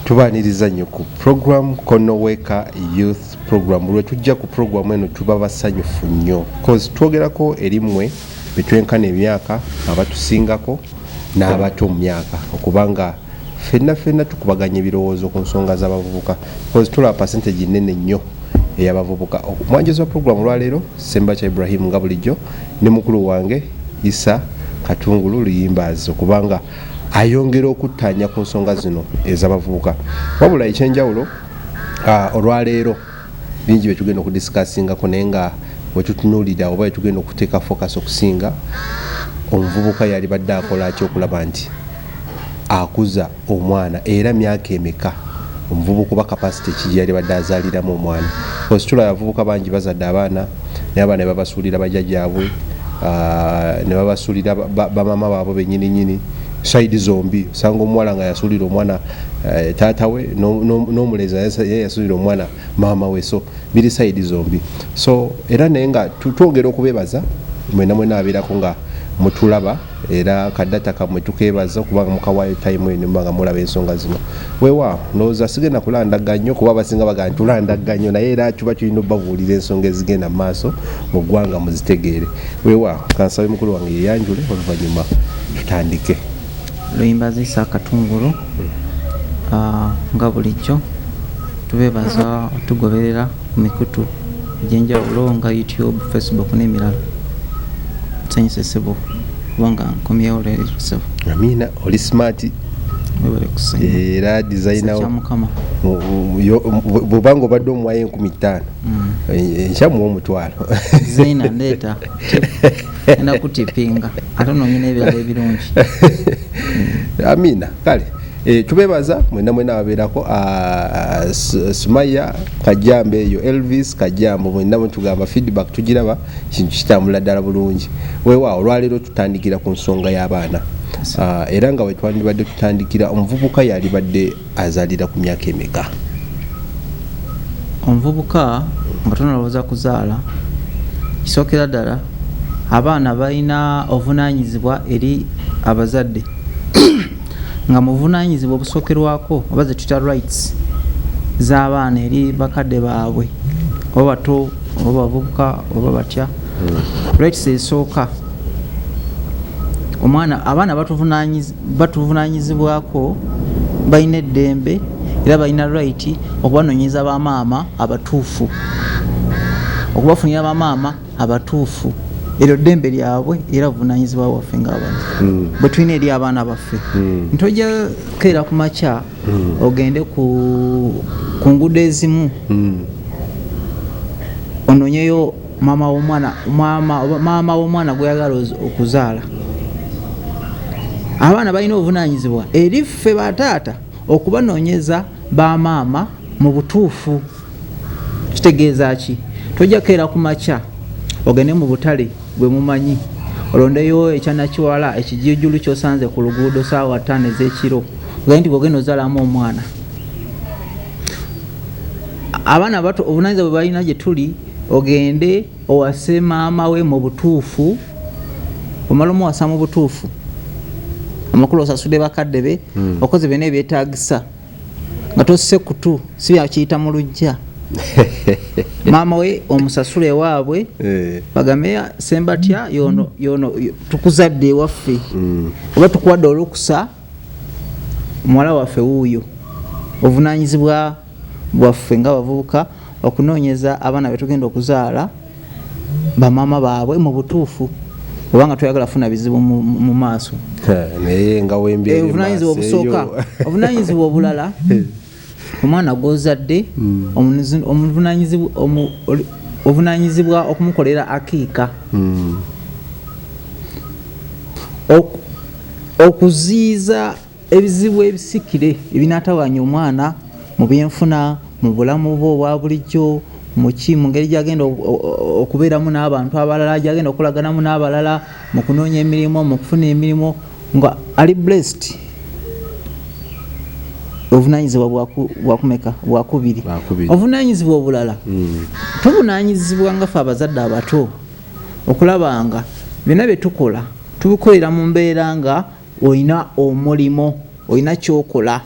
tubaniriza nnyo ku program konoweka youth program lwe tujja ku program eno tuba basanyufu nnyo bcause twogerako eri mmwe betwenkana emyaka abatusingako n'abato mu myaka okubanga fenna fenna tukubaganya ebirowoozo ku nsonga z'abavubuka bcause tulaba percentage nene nnyo eyabavubuka omwanjozi wa program olwaleero sembakya ibrahim nga bulijjo ne mukulu wange isa katungulu luyimbaazi okubanga ayongera okuttaanya ku nsonga zino ez'abavubuka wabula ekyenjawulo ah, olwaleero bingi byetugenda okudisikasingako naye nga wetutunulira oba wetugenda okuteeka focus okusinga omuvubuka yalibadde akola ki okulaba nti akuza omwana era myaka emeka omuvubuka oba kapasite ki gyeyalibadde azaaliramu omwana ositula abavubuka bangi bazadde abaana naye abaana babasuulira bajajaabwe ah, ne babasuulira bamama baabwe benyininyini saidi zombi osanga omuwala nga yasuulira omwana eh, taata we n'omulenzi naye yasuulira omwana maama we so biri saidi zombi so era naye nga twongera okubebaza mwena mwena abeerako nga mutulaba era kadata kamwe tukebaza okubanga mukawayo time eno mbanga mulaba ensonga zino wewa noza sigenda kulanda ganyo kuba basinga baga ntulanda ganyo naye era kiba kirina obabuulira ensonga ezigenda maaso mu ggwanga muzitegeere wewa kansabe mukulu wange yeyanjule oluvanyuma tutandike luyimba zisa akatungulu hmm. ah, nga bulijjo tubebaza tugoberera ku mikutu egyenjawulo nga youtube facebook n'emirala nsanyusa essebo kubanga nkomyewo leero essebo amina oli smart era designbwobanga obadde omuwayo enkumi ttaano mm. eh, enkyamuwa omutwalo zaina ndeeta enda kutipinga ate nonyina ebirala ebirungi amina kale Eh, tubebaza mwena mwena ababeerako ah, sumaya kajambe eyo elvis kajambo mwena mwetugamba feedback tugiraba kintu kitambula ddala bulungi wewa olwaleero tutandikira ku nsonga y'abaana ah, era nga wetwandibadde tutandikira omuvubuka yalibadde azalira ku myaka emeka omuvubuka nga tonalowooza kuzaala kisookera ddala abaana balina obuvunanyizibwa eri abazadde nga muvunanyizibwa obusokerwako oba zetuyita rights z'abaana eri bakadde baabwe oba bato oba bavubuka oba batya hmm. rights esooka omwana abaana batuvunanyizibwako balina eddembe era balina right okubanonyeza bamaama abatuufu okubafunira bamaama abatuufu eryo ddembe lyabwe era buvunanyizibwa bwaffe ngaabantu hmm. bwe tulina eri abaana baffe hmm. ntojja keera ku makya hmm. ogende ku ngudo ezimu ononyeyo maama womwana maama womwana gweyagala okuzaala abaana balina obuvunanyizibwa eri ffe bataata okubanonyeza bamaama mu butuufu kitegeeza ki tojja keera ku makya ogende mu butale bwe mumanyi olondeyo ekyanakiwala ekijijulu kyosanze ku luguudo saawa ttaano ez'ekiro ogende nti bwogenda ozalamu omwana abaana abato obunanyiza bwe balina gye tuli ogende owase maama we mu butuufu omala omuwasa mu butuufu amakulu osasude bakadde be hmm. okoze byona ebyetagisa nga tosse kutu si byakiyita mu lujja maama we omusasula ewaabwe eh. bagambe sembatya yono yono tukuzadde ewaffe mm. oba tukuwadde olukusa muwala waffe wuuyo obuvunanyizibwa bwaffe nga bavubuka okunoonyeza abaana betugenda okuzaala bamaama baabwe mu butuufu oba nga toyagala kufuna bizibu mu maaso eh, obuvunanyizibwa obusooka obuvunanyizibwa obulala eh. omwana gwozadde hmm. obuvunanyizibwa okumukolera akiika hmm. okuziiza Ebizibu ebisikire ebinatawaanya omwana mu byenfuna, mu bulamu bwe obwa bulijjo, muki mu ngeri gyagenda okubeeramu n'abantu abalala, gyagenda okukolaganamu n'abalala, mu kunoonya emirimu, mu kufuna emirimu nga ali blessed obuvunanyizibwa bwakumeka bwakubiri obuvunanyizibwa obulala hmm. tubunanyizibwa nga fe abazadde abato okulaba nga byonna byetukola tubikolera mu mbeera nga olina omulimo olina kyokola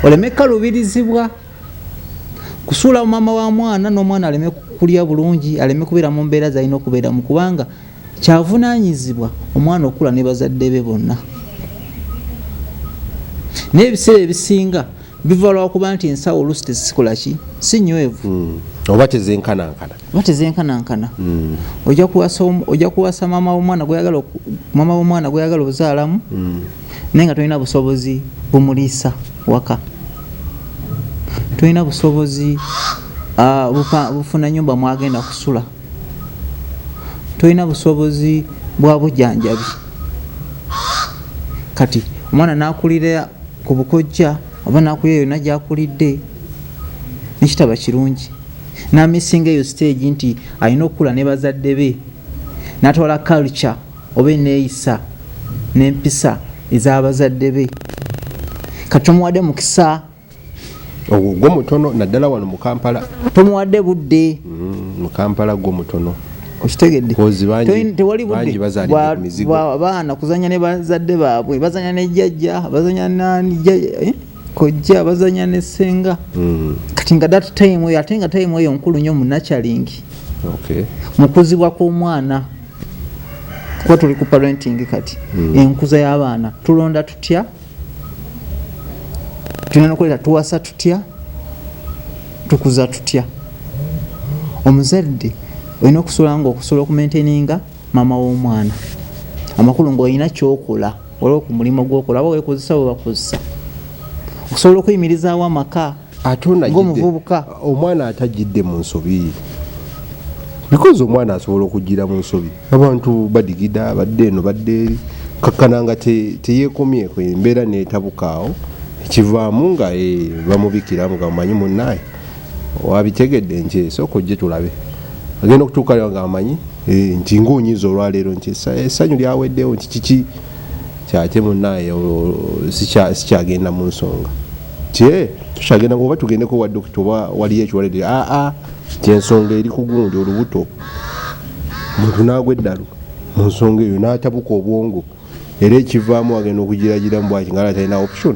oleme kalubirizibwa kusuula mumama wa mwana n'omwana aleme kulya bulungi aleme kubeera mu mbeera zalina okubeeramu kubanga kyavunanyizibwa omwana okukula ne bazadde be bonna naye ebiseera ebisinga biva lwakuba nti ensawo oluusi tezisikola ki si nywevu hmm. oba tezenkanankana oba tezenkanankana hmm. ojja kuwasa maama womwana gweyagala ozaalamu hmm. naye nga tolina busobozi bumuliisa waka tolina busobozi ah, bufuna nyumba mwagenda kusula tolina busobozi bwa bujanjabi kati omwana nakulira ku bukojja oba nakulira yonna gyakulidde nekitaba kirungi namisinga eyo siteegi nti alina okukula ne bazadde be natwala culture oba eneeyisa n'empisa ez'abazadde be kati omuwadde mukisa ogwo gwo mutono naddala wano mu kampala tomuwadde budde mm, mu kampala gwo mutono okitegeddetewalibaana kuzanya ne bazadde baabwe bazanya ne jjajja bazanya eh? kojja bazanya ne senga mm. kati nga dat time eyo ate nga time eyo nkulu nnyo munacalingi mukuzibwa kw'omwana kuba tuli ku parenting kati mm. enkuza y'abaana tulonda tutya tulina nokuleeta tuwasa tutya tukuza tutya omuzadde olina okusobola nga okusobola okumaintaininga maama w'omwana amakulu ngaolina kyokola olwo ku mulimu gwokola aba wekozesa webakozesa okusobola okuyimirizaawo amaka ate omuvubuka omwana atajjidde mu nsobi bikozi omwana asobola okugira mu nsobi abantu badigida badde eno badde eri kakkana nga teyekomyeko embeera netabukaawo ekivaamu nga e, bamubikiramu nga mumanyi munaye wabitegedde nti esooka ojje tulabe agenda okutuukayo nga amanyi e, nti ngaonyiza olwaleero nti essanyu lyaweddewo nti kiki kyaki munaye sikyagenda munsonga kye tukyagenda oba tugendeko wa dokita oba waliyo ekiwalede aa kyensonga eri kugundi olubuto muntu nagwa eddalu mu nsonga eyo natabuka obwongo era ekivaamu agenda okugiragiramu bwaki nga atalina option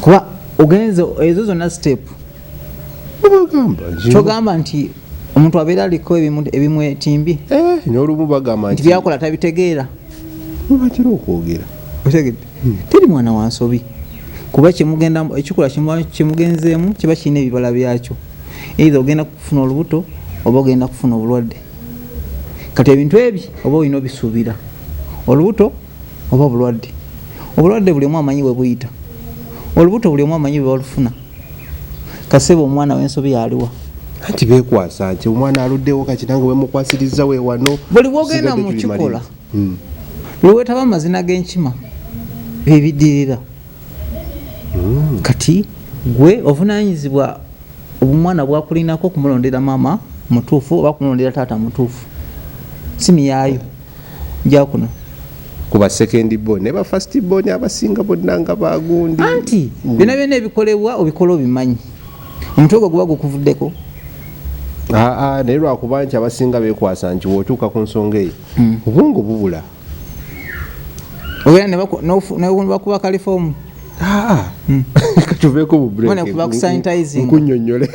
kuba ogenze ezo zonna step kyogamba nti omuntu abeera aliko ebimwetimbi eh, nolumu bagamba nti byakola tabitegeera webatera okwogera otegedde hmm. teri mwana wa nsobi kuba kyemugenda ekikola kyemugenzeemu kiba kirina ebibala byakyo eitha ogenda kufuna olubuto oba ogenda kufuna obulwadde kati ebintu ebyo oba olina obisuubira olubuto oba obulwadde obulwadde buli omu amanyi webuyita olubuto buli omu amanyi bwebalufuna kasebe omwana wensobi yaliwa anti bekwasa nti omwana aluddewo kati nange wemukwasirizza we wano buli wogenda mukikola hmm. lwewetaba amazina genkima byebidirira hmm. kati gwe ovunanyizibwa omwana bwakulinako okumulondera mama mutuufu oba kumulondera taata mutuufu simiyayo jakuno kuba second born ne ba first born abasinga bonna nga bagundi anti mm. byona byona ebikolebwa obikola obimanyi omutwe gwo guba gukuvuddeko aa naye lwakuba nti abasinga bekwasa nti wotuuka ku nsonga eyo mm. obwongo bubula obeera nebakuba kalifoomu mm. katuveeko bubrekunyonyole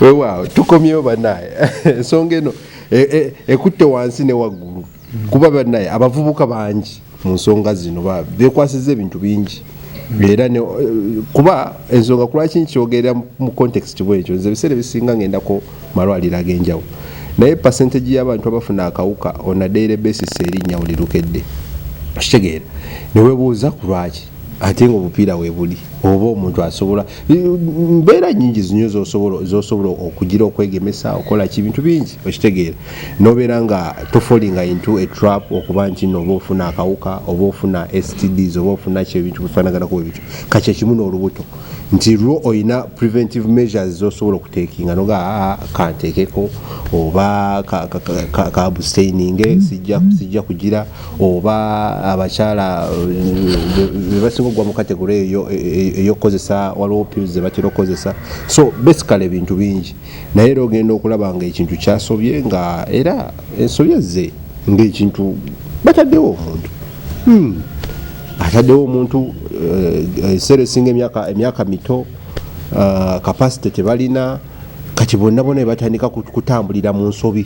wewaawo tukomyewo banaye ensonga eno e, e, ekutte wansi ne waggulu kuba banaye abavubuka bangi mu nsonga zino bekwasiza ebintu bingi era eh, kuba ensonga kulwaki nkyogerera mu context bwekyo nze ebiseera ebisinga ngendako malwaliro ag'enjawulo naye percentage y'abantu abafuna akawuka on a daily basis erinnya buli lukedde okitegeera newebuuza ku lwaki ate nga obupiira webuli oba omuntu asobola mbeera nyingi zinyo zosobola okugira okwegemesa okola ki bintu bingi okitegeera nobeera nga tofolinga into a trap okuba nti no oba ofuna akawuka oba ofuna stds oba ofuna ki ebintu bifanaganako bwebityo kakyekimu n'olubuto nti lwo olina preventive measures zosobola okutekinga noga ah, kantekeko oba kabustaininge sijja kugira oba abakyala eh, bebasinga okugwa mu kategore eyokukozesa e, e, waliwo pills zebatera okukozesa so basically ebintu bingi naye era ogenda okulaba nga ekintu kyasobye nga era ensobi ezze ngaekintu bataddewo omuntu hmm. ataddewo omuntu eh, ekiseera esinga emyaka mito kapasite eh, tebalina kati bonna bona ebatandika kutambulira mu nsobi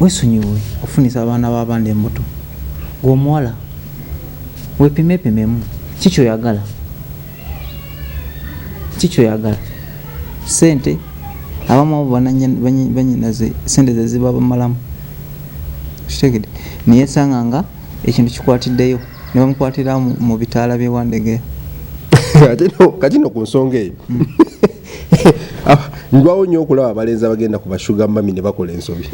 wesonyiwe ofunisa abaana babandi embuto gwe omuwala wepimepimemu kikyoyagala kikyoyagala sente abamu abo banyinaze sente zeziba bamalamu kitegede naye esanga nga ekintu kikwatiddeyo nebamukwatira mu bitaala byewandegeya kati no ku nsonga eyo hmm. ah, ndwawo nnyo okulaba abalenzi abagenda ku bashuga mami ne bakola ensobi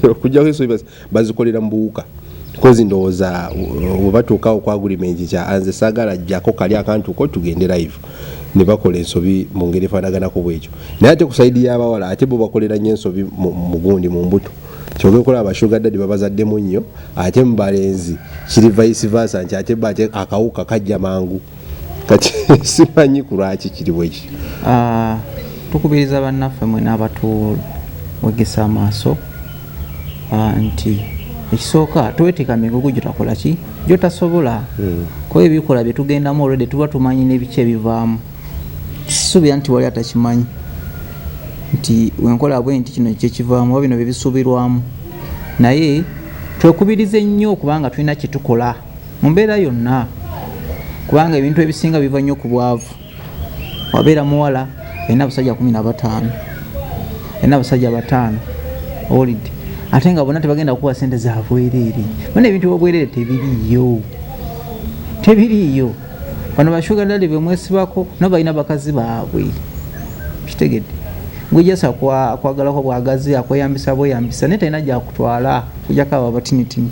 okujjako ensobi bazikolera mu buwuka kozi ndowooza webatuukawo uh, ku agulimenti kya anze sagala jjako kali akantuko tugende live ne bakola ensobi mu ngeri efaanaganako bwekyo naye ate ku saidi y'abawala ate bo bakolera nnyo ensobi mu gundi mu mbuto kyoga okola abashuga dadi babazaddemu nnyo ate mu balenzi kiri vice versa nti ate akawuka kajja mangu kati simanyi ku lwaki kiri bwekityo ah, tukubiriza bannaffe mwena abatuwegesa amaaso ah, nti ekisooka tweteeka migugu gyetakola ki gyotasobola hmm. kuba ebikola byetugendamu olwedde tuba tumanyi n'ebiki ebivaamu sisuubira nti wali atakimanyi nti wenkola bwe nti kino kyekivaamu oba bino byebisuubirwamu naye twekubirize nnyo kubanga tulina kyetukola mu mbeera yonna kubanga ebintu ebisinga biva nnyo ku bwavu wabeera muwala olina abasajja kumi na bataano olina abasajja bataano owulidde ate nga bona tebagenda kukuba sente za bwereere bona ebintu byobwereere tebiriiyo tebiriiyo bano bashugandali bemwesibako nabo balina bakazi baabwe kitegedde gwejasa kwagalako bwagazi akweyambisa bweyambisa naye talina gyakutwala kujakaba batinitini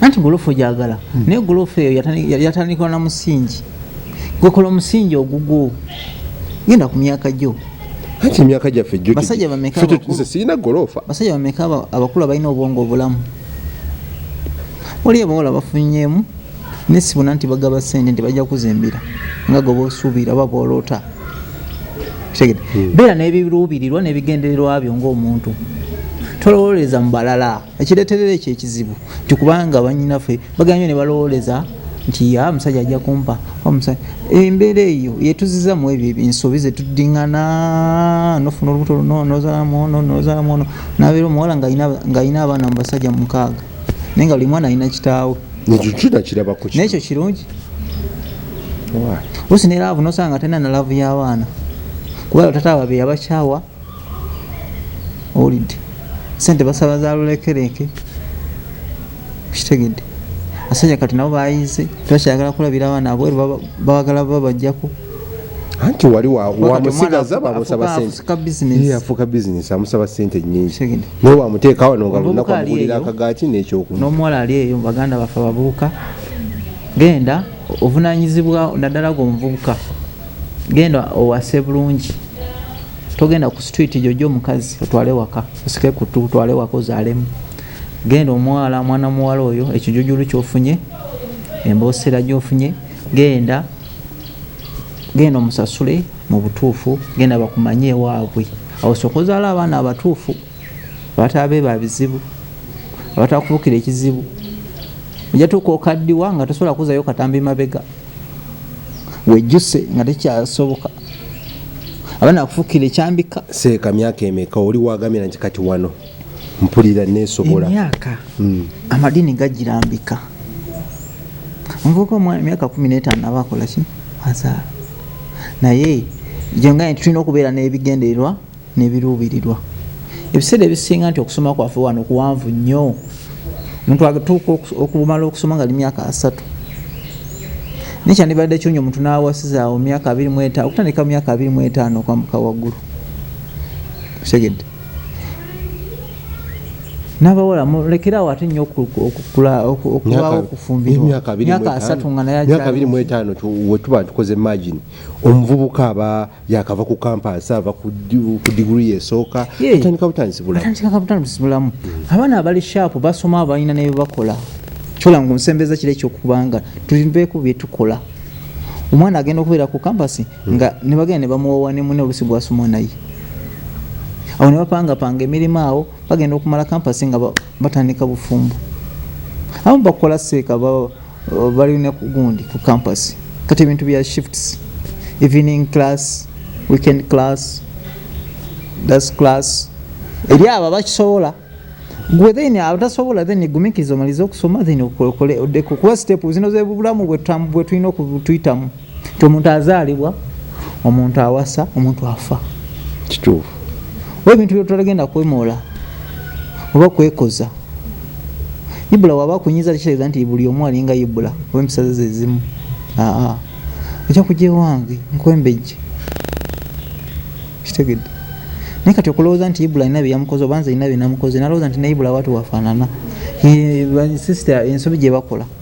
anti golofu gyagala hmm. naye golofu eyo yatandikwa na musingi gwekola omusingi ogugwo genda ku myaka gyo anti emyaka gyaffe basajja bamekasirina golofa basajja bameka abakulu abalina obwongo obulamu oli abawala bafunyemu nesibona nti bagaba sente nti bajja kuzimbira nga goba osuubira oba bwoloota kitegede hmm. beera n'ebiruubirirwa n'ebigendererwa byo ng'omuntu tolowoleza mu balala ekireterera ekyo ekizibu nti kubanga banyinafe baganyo ne balowooleza nti ya musajja ajja kumpa embeera eyo yetuziza mu ebyo ensobi zetuddingana nofuna olubuto luno nozalamu ono nozalamu ono nabeera omuwala ng'alina abaana mu basajja mukaaga naye nga buli mwana alina kitaawe nekyo kirungi osi ne laavu nosanga tena na laavu y'abaana kubala tata wabe yabakyawa owulidde sente basaba za lulekereke kitegedde asajja kati nabo bayize tebakyagala kulabira abaana abweru bawagala babajjako anti wali wamusigaza bamusaba senteyafuuka bizinesi amusaba sente nyingi naye wamuteeka wano nga lunaku amugulira akagaati nekyoku n'omuwala ali eyo baganda baffe abavubuka genda ovunanyizibwa naddala gwe omuvubuka genda owase bulungi togenda ku street jojo omukazi otwale waka osike kutu otwale waka ozalemu genda omwala mwana muwala oyo ekijujulu kyofunye emboosera gyofunye genda genda omusasule mu butuufu genda bakumanye ewaabwe awo sokozaala abaana abatuufu abataabe ba bizibu abatakubukira ekizibu ojatuuka okaddiwa nga tosobola kuzayo katambi mabega wejjuse nga tekyasoboka aba nakufukira ekyambika seeka myaka emeka oli wagamira nti kati wano mpulira nesobola emyaka hmm. amadini gagirambika omuvuka omwana emyaka kumi n'etaano aba akolaki azaala naye gyonga nti tulina okubeera n'ebigendererwa nebiruubirirwa ebiseera ebisinga nti okusoma kwaffe wano kuwanvu nnyo omuntu atuuka okumala okusoma nga li myaka asatu naye kyandibadde kyonyo omuntu nawasizaawo myaka abiri mweta okutandika mu myaka abiri mwetaano okwambuka waggulu segedde nabawala mulekeraawo ate nnyo okulwawo okufumbirwamyaka asatu nga nayeabiri mwetaano wetuba tukoze magini omuvubuka aba yakava ku kampaasi ava ku digiri yesooka atandika butandisi bulamu mm. abaana abali shaapu basoma abalina nebebakola kyola nga onsembeza kiro ekyokubanga tulimbeeko byetukola omwana agenda okubeera ku kampasi mm. nga nebagenda nebamuwawa nemune olusi gwasoma naye awo nebapangapanga emirimu awo bagenda okumala kampasi nga batandika bufumbo abamu bakola seeka uh, bali ne kugundi ku campus kati ebintu bya shifts evening class weekend class das class eri abo abakisobola gwe then abatasobola then gumikiriza omalize okusoma then okole oddeko kuba sitepu zino zebulamu bwetulina okutuyitamu nti omuntu azaalibwa omuntu awasa omuntu afa kituufu oba ebintu byotutagenda kwemoola oba kwekoza ibula waba kunyiza tekitegeeza nti buli omu alinga ibula oba empisaze zezimu aa oja kuja ewange nkwembejje kitegedde naye kati okulowooza nti ibula alina byeyamukoze obanza alina byenamukoze nalowooza nti ne ibula watu wafaanana sister ensobi gyebakola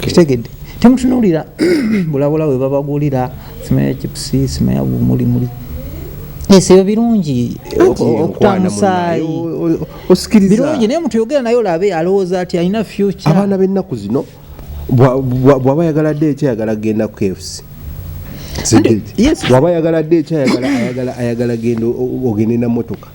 kitegedde temutunulira bulabula we babagulira sima ya chipusi sima ya bumuli muli esebyo birungi okutamusaayi birungi naye omuntu yogera naye olabe alowooza ati alina future abaana b'ennaku zino bwaba yagala dde ekyayagala genda ku kfc waba yagala dde ekyayagala ayagala genda ogende na motoka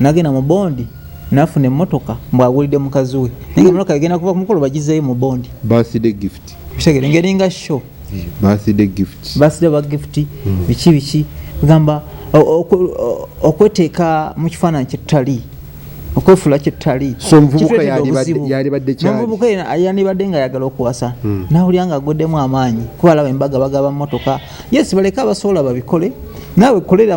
nagenda mu bondi nafuna emotoka mbu agulidde mukazi we naye emotoka egenda kuva kumukolo bagizeyo mu bondi birthday gift kitegere ngeringa show birthday gift birthday ba gift hmm. biki biki gamba okweteeka mu kifaananyi kyetutali okwefula kyetutali somuvubuka yandibadde nga ayagala okuwasa hmm. nawulira nga agweddemu amaanyi kuba alaba embaga bagaba motoka yes baleke abasobola babikole naawe kolera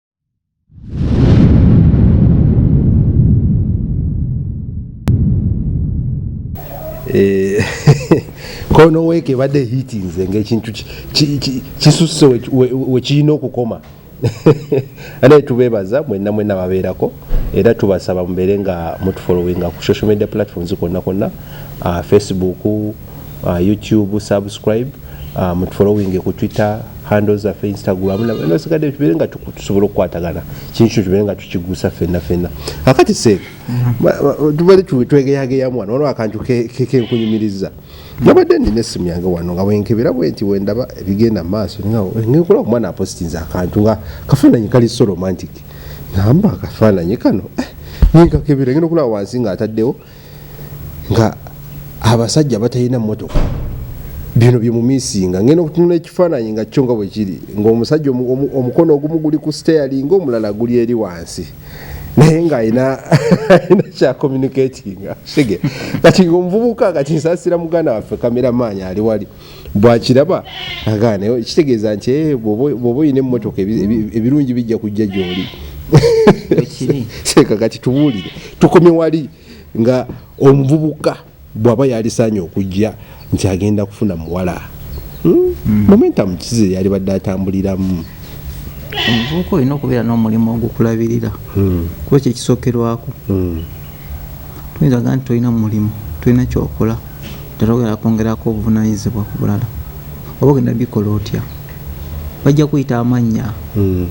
Eh, kono weeke ebadde hitinze ngaekintu kisusse wekirina okukoma anaye tubebaza mwena mwena babeerako era tubasaba mubeere nga mutufolowinga ku social media platforms konna konna ah, facebook ah, youtube subscribe Ah, mutufolowinge ku twitter handle zaffe instagram nasigadde tubere nga tusobola okukwatagana kintu kyo tubere nga tukigusa fenna fenna akati seeka mm-hmm. tubere twegeyageyamu wano waliwo akantu kenkunyumiriza nabadde nina esimu yange wano nga wenkebera bwe nti wendaba ebigenda mu maaso ngenkola omwana apositinza akantu nga kafaananyi kali so romantic namba akafaananyi kano eh, nenkakebera ngenda okulaba wansi nga ataddewo nga abasajja batalina motoka bino byemumisinga ngenda okutunula ekifaananyi nga kyo nga bwe kiri ng'omusajja omukono ogumu guli ku steering omulala guli eri wansi naye nga alina kyakomunikatinga sige kati ngaomuvubuka kati nsasira muganda waffe kameramaanyi ali wali bwakiraba agaana kitegeeza nti eh, bwoba olina emmotoka ebirungi bijja kujja gyoli seeka kati tubuulire tukome wali nga omuvubuka bwaba yalisaanye okujja nti agenda kufuna muwala hmm? hmm. momentum kize yalibadde atambuliramu omuvubuka olina okubeera n'omulimu ogukulabirira hmm. kuba kyekisokerwako Tuyinza gamba nti tolina mulimu, tolina ky'okola, nti togenda kwongerako buvunaanyizibwa ku bulala, oba ogenda bikola otya? Bajja kuyita amannya,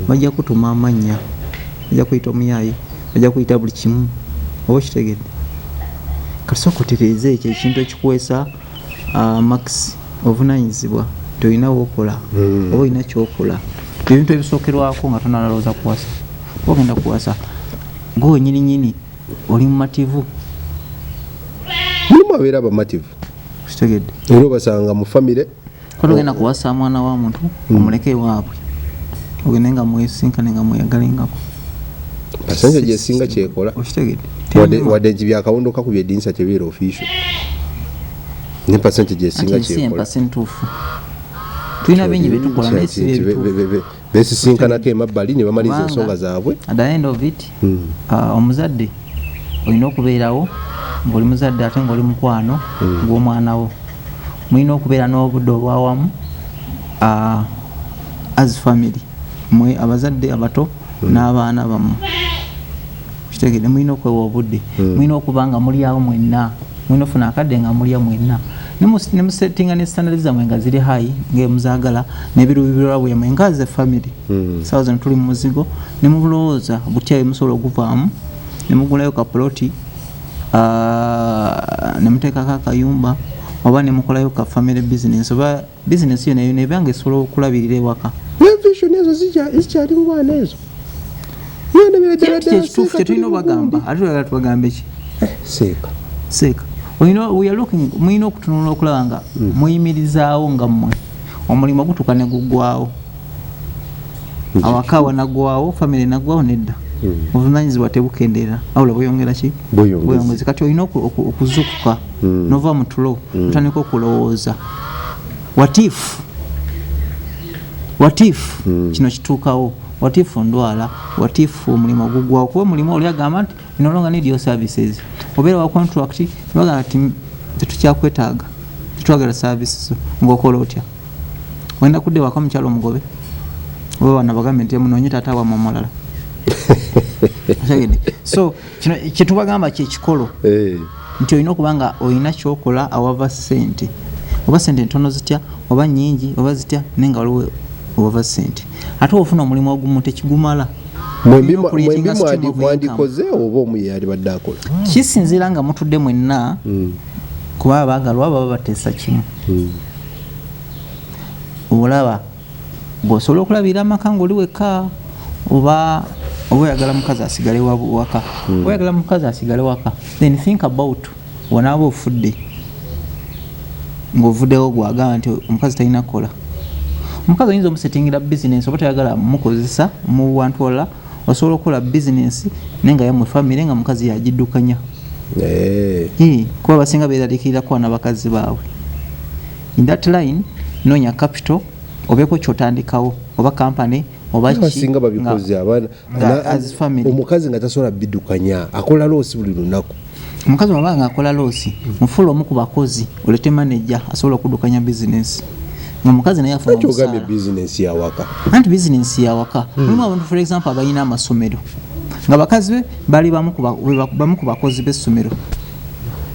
bajja kutuma amannya, bajja kuyita omuyaaye, bajja kuyita buli kimu. Oba okitegedde? Kati sooka otereeze ekyo ekintu ekikuweesa. Ah, max obuvunanyizibwa nti olina wokola hmm. oba olina kyokola ebintu ebisookerwako nga tonalowooza kuwasa ogenda kuwasa gwe wenyini nyini oli mumativu mulimu abeera abamativu kitegedde era obasanga mu famire kati ogenda kuwasa mwana wa muntu hmm. omuleke ewaabwe ogende nga mwesinkane nga mweyagalengako pasanja gyesinga kyekola wadde byakawundo kakubye edinisa tebeera ofisio ne pasanja gyesinga kyekola tulina bingi byetukola naye si byebitu besisinkanako emabbali ne bamaliza ensonga zaabwe at the end of it hmm. uh, omuzadde olina okubeerawo ngaoli muzadde ate ngaoli mukwano hmm. gw'omwana wo mulina okubeera n'obudde obwawamu uh, as family mwe abazadde abato hmm. n'abaana bammwe kitegede mulina okwewa obudde hmm. mulina okuba nga mulyawo mwenna mulina ofuna akadde nga mulya mwenna nemusettinga ne standard zamwe nga ziri hayi ngemuzagala nebirubirirwa bwemwe nga ze family hmm. sawa zino tuli mumuzigo nemubulowooza butya emusobola okuvaamu nemugulayo kapuloti ah, nemuteekako akayumba oba nemukolayo ka family business oba Business yona yona ebanga esobola okulabirira ewaka. Ne vision ezo zija zikyali mu bwana ezo. Yona bira dala dala. Kitufu tetulina bagamba. Ate tulagala tubagambe ki? Eh, seeka. Seeka. We know we are looking mulina okutunula okulaba nga hmm. muyimirizaawo nga mmwe omulimu gutuuka ne guggwawo. awaka wanagwawo famiry nagwawo nedda hmm. obuvunanyizibwa tebukendeera awula bweyongera ki bweyongezi kati olina okuzukuka hmm. nova mutulo hmm. otandika okulowooza watifu watifu kino kituukawo watifu ndwala watifu omulimu ogugwawo kuba omulimu oli agamba nti you no longer need your services obeera wa contract nogamba nti tetukyakwetaaga tetwagala services ngaokola otya wenda kudde waka omukyalo omugobe oba bana bagambe nti munonye taata wamwe omulala so kino kyetubagamba kyekikolo eh. nti olina okuba nga olina kyokola awava sente oba sente ntono zitya oba nyingi oba zitya naye nga waliwo owava sente ate ofuna omulimu ogumu tekigumala mwembi mwandikoze oba omu yeyalibadde akola kisinzira nga mutudde mwenna hmm. kuba abagalwa baba bateesa kimu hmm. olaba bwosobola okulabirira amaka ngaoli wekka oba oba oyagala mukazi asigale waka hmm. oyagala mukazi asigale waka then think about Bwonaaba ofudde ngovudewo gwe agamba nti omukazi talina kukola omukazi oyinza omusetingira bizinesi oba tayagala mukozesa mu bantu wala osobola okukola bizinesi naye nga yamwe famiry nga mukazi yagidukanya eh. kuba basinga beralikirira kuba nabakazi baabwe in that line nonya capital obeeko kyotandikawo oba kampany obasinga babikoze abaana omukazi nga tasobola bidukanya akola loosi buli lunaku omukazi wabanga akola loosi mufuula omu ku bakozi olete maneja asobola okudukanya bizinesi omukazi naye afunakyogambye bizinesi yawaka anti bizinesi yawaka hmm. mulimu abantu for example abalina amasomero nga bakazi be bali bamu ku bakozi b'essomero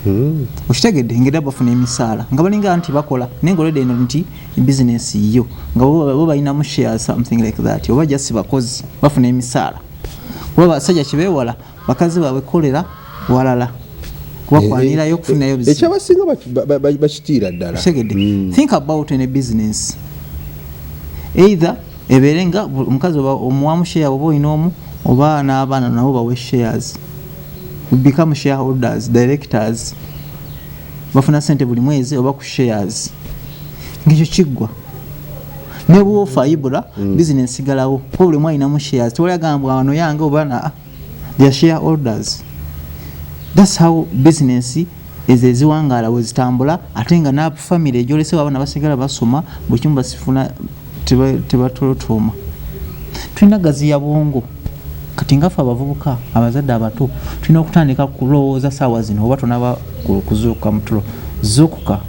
hmm. okitegedde ngera bafuna emisaala nga balinga nti bakola naye ngaoledde eno nti business yo nga bo balinamu share something like that oba just bakozi bafuna emisaala kuba basajja kibewala bakazi babwe kolera walala wakwanirayo eh, eh, okufunayo eh, ekyabasinga bakitiira ddala segede hmm. think about any business either ebeere nga omukazi omuwamu share oba olina omu oba n'abaana nabo bawe shares become shareholders directors bafuna sente buli mwezi oba ku shares ngekyo kiggwa naye bwofa ibula mm. bizinesi galawo kuba buli mwalinamu shares tewali agambwa wano yange oba na their share orders thats how business ezo eziwangaala wezitambula ate nga nafamiry egyolesewo abaana basigala basoma buli kimu basifuna tebatolotooma tulina gazi ya bwongo kati ngafe abavubuka abazadde abato tulina okutandika kulowooza saawa zino oba tonaba kuzuuka mutulo zukuka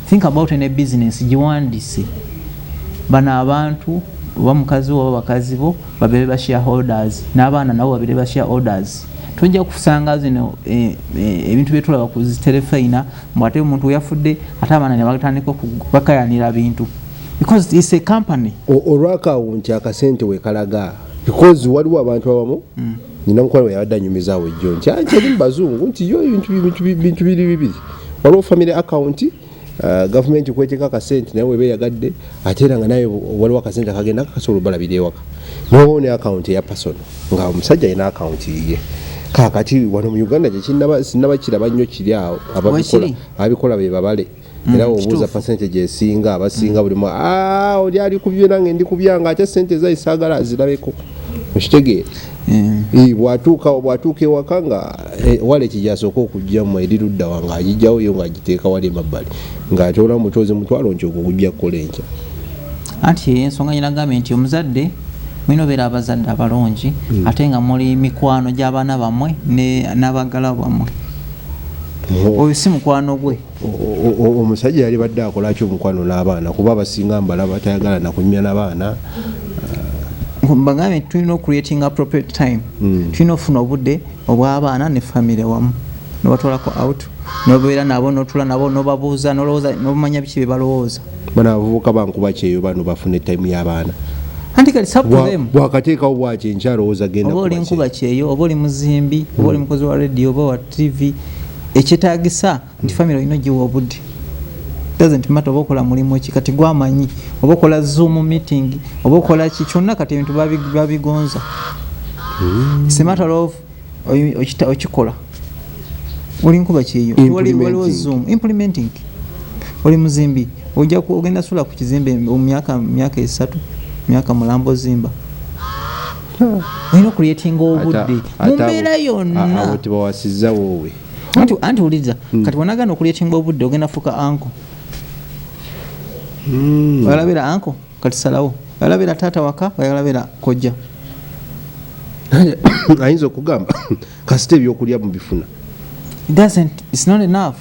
think about ne bisiness giwandise bano abantu oba mukazi oba bakazi bo babere ba share holders n'abaana nabo babere ba share orders tujja kusanga zino e, e, ebintu e, byetulaba ku ziterefeina mbu ate omuntu yafudde ate abaana ne batandika okubakayanira bintu because it's a company olwa account akasente we kalaga because waliwo abantu abamu mm. nina mukwano yabadde anyumizawo ejjo nti akyali mubazungu nti yo bintu biri bibiri waliwo family account uh, gavumenti kweteka akasente naye weba eyagadde ate era nga naye waliwo akasente akagenda kakasobola obalabira ewaka nobawo ne account eya person nga omusajja alina account yiye kakati wano mu uganda kyekinaba sinaba kiraba nnyo kiri awo ababikola abikola bebabale Mm, era obuuza percentage esinga abasinga mm. buli mu ah, oli ali kubyo nange ndi kubya nga ate sente ezayi saagala azirabeko okitegeera mm. eh, bwatuuka bwatuuka ewaka nga eh, wala ekijasooka okugjamu eri luddawa nga agijjawo yo nga agiteeka wali emabbali nga atyola mubutozi mutwalo nti okukujja kukola enkya anti ensonga nyina gambye nti omuzadde mulina obeera abazadde abalungi ate nga muli mikwano gy'abaana bammwe n'abagala bammwe oyo si mukwano gwe omusajja yali badde akolaki omukwano n'abaana kuba abasinga mbala batayagala nakunyumya nabaana uh, mbagambe nti tulina ocreating appropriate time hmm. tulina okufuna obudde obw'abaana ne famire wamu nobatwalako out nobeera nabo notula nabo nobabuuza nolowooza nomanya biki byebalowooza bano abavubuka bankuba kyeyo bano bafuna etayimu y'abaana bwakateekawo bwaki enkyalowooza gendaoba oli nkuba kyeyo oba oli muzimbi oba oli hmm. mukozi wa radio oba TV ekyetagisa nti family olina ogiwa obudde doesn't matter oba okola mulimu ki kati gwamanyi oba okola zoom meeting oba okola ki kyonna kati ebintu babigonza hmm. sematter of okikola oli nkuba kyeyo waliwo zoom implementing oli muzimbi ojja ogenda sula ku kizimbe myaka myaka esatu myaka mulamba ozimba olina okuleetinga obudde mu mbeera yonna tebawasizza woowe anti anti uliza hmm. kati wanagana okuleetinga obudde ogenda fuka anko hmm. oyalabira anko kati salawo oyalabira taata waka oyalabira kojja ayinza okugamba kasita ebyokulya mubifuna doesn't it's not enough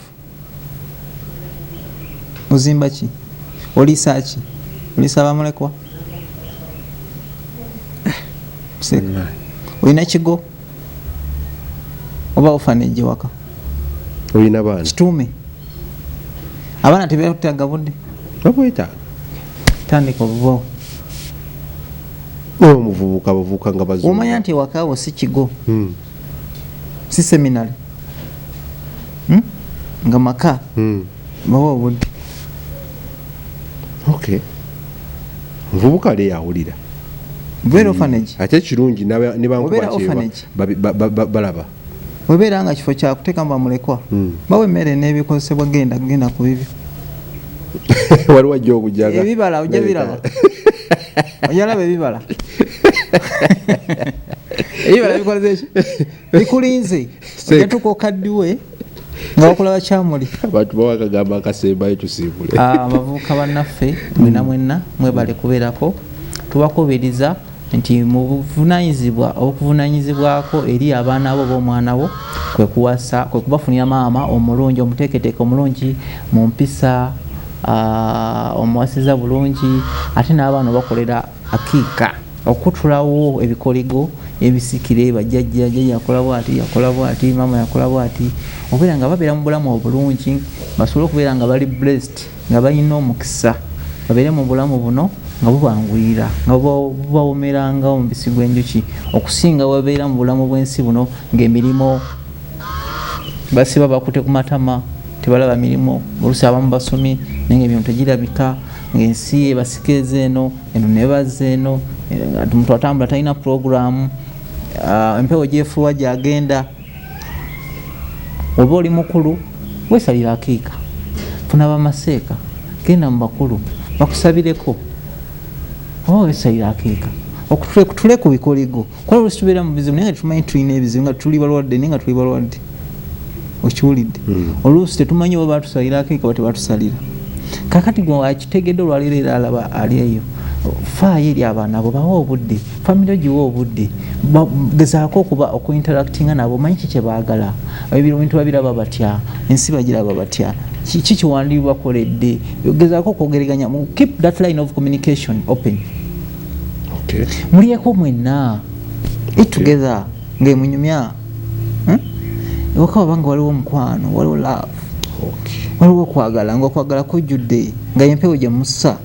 ozimba ki oliisa ki oliisa bamulekwa olina kigo oba ofana ejewaka olina baana kituume abaana tebetaga budde babwetaaga tandika obubawo omuvubuka bavubuka nga bazomanya nti ewakaawo si kigo hmm. si seminary hmm? nga maka hmm. bawa obudde okay muvubuka le yawulira beera ofanage hmm. ate ekirungi nebankubalaba webeera nga kifo kyakutekamu bamulekwa hmm. bawa emmere n'ebikozesebwa genda genda ku bibyo waliwo ajja okujaga ebibala ojja biraba oyalaba ebibala ebibala bikoze ki bikulinze ojatuka okaddiwe nga wakula bakyamuli abantu bawakagamba akasembayo tusimbule ah, abavubuka bannaffe mwena mwenna mwebale kubeerako tubakubiriza nti mu buvunanyizibwa obukuvunanyizibwako eri abaana bo b'omwana wo kwekuwasa kwekubafunira maama omulungi omuteeketeeke omulungi mu mpisa uh, omuwasiza bulungi ate n'abaana obakolera akiika okutulawo ebikoligo ebisikire bajjajja jjajja yakola bwati yakola bwati maama yakola bwati okubeera nga babeera mu bulamu obulungi basobole okubeera nga bali blessed nga balina omukisa babeere mu bulamu buno nga bubanguyira nga bubawomeranga omubisi gw'enjuki okusinga babeera mu bulamu bw'ensi buno ng'emirimu basiba bakute ku matama tebalaba mirimu olusi abamu basomi naye nga ebintu tegirabika ngaensi ebasika eza eno eno nebaza eno omuntu eh, atambula talina puroguramu ah, empewo gyefuuwa gyagenda oba oli mukulu wesalira akiika funa bamaseeka genda mu bakulu bakusabireko oba wesalira akiika okutule ku bikoligo kuba olusi tubeera mu bizibu naye nga tumanyi tulina ebizibu nga tuli balwadde naye nga tuli balwadde okiwulidde hmm. oluusi tetumanyi oba batusalira akeeka oba tebatusalira kakati gwe akitegedde olwaleero era alaba ali eyo faayo eri abaana abo bawa obudde famiry ogiwa obudde gezaako okuba okuinteractinga nabo omanyi ki kyebaagala ebintu babiraba batya ensi bagiraba batya kiki kiwandiibakoledde gezaako okwogereganya keep that line of communication open okay. mulyeko mwenna eat together okay. munyumya hmm? ewaka waba nga waliwo omukwano waliwo love okay. waliwo okwagala nga okwagala kujjudde nga yempewo gye mussa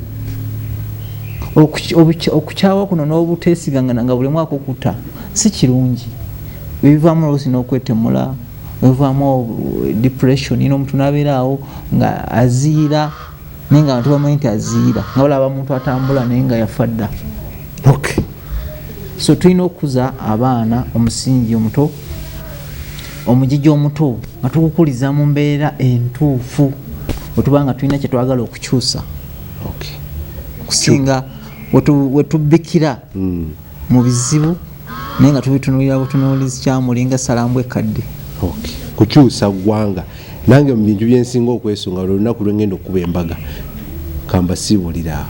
okukyawa kuno n'obuteesigangana nga buli mwaka okuta si kirungi ebivaamu oluusi n'okwetemula ebivaamu depression ina omuntu n'abeeraawo nga aziira naye nga bantu bamanyi nti aziira nga balaba muntu atambula naye nga yafa dda okay. so tulina okukuza abaana omusingi omuto omujiji omuto nga tukukuliza mu mbeera entuufu wetuba nga tulina kyetwagala okukyusa okusinga wetubikira hmm. mu bizibu naye nga tubitunulira butunuulizi kyamulinga salambu ekkadde kukyusa ggwanga nange mu bintu byensinga okwesunga lwe lunaku lwe ngenda okukuba embaga kamba siibulira awo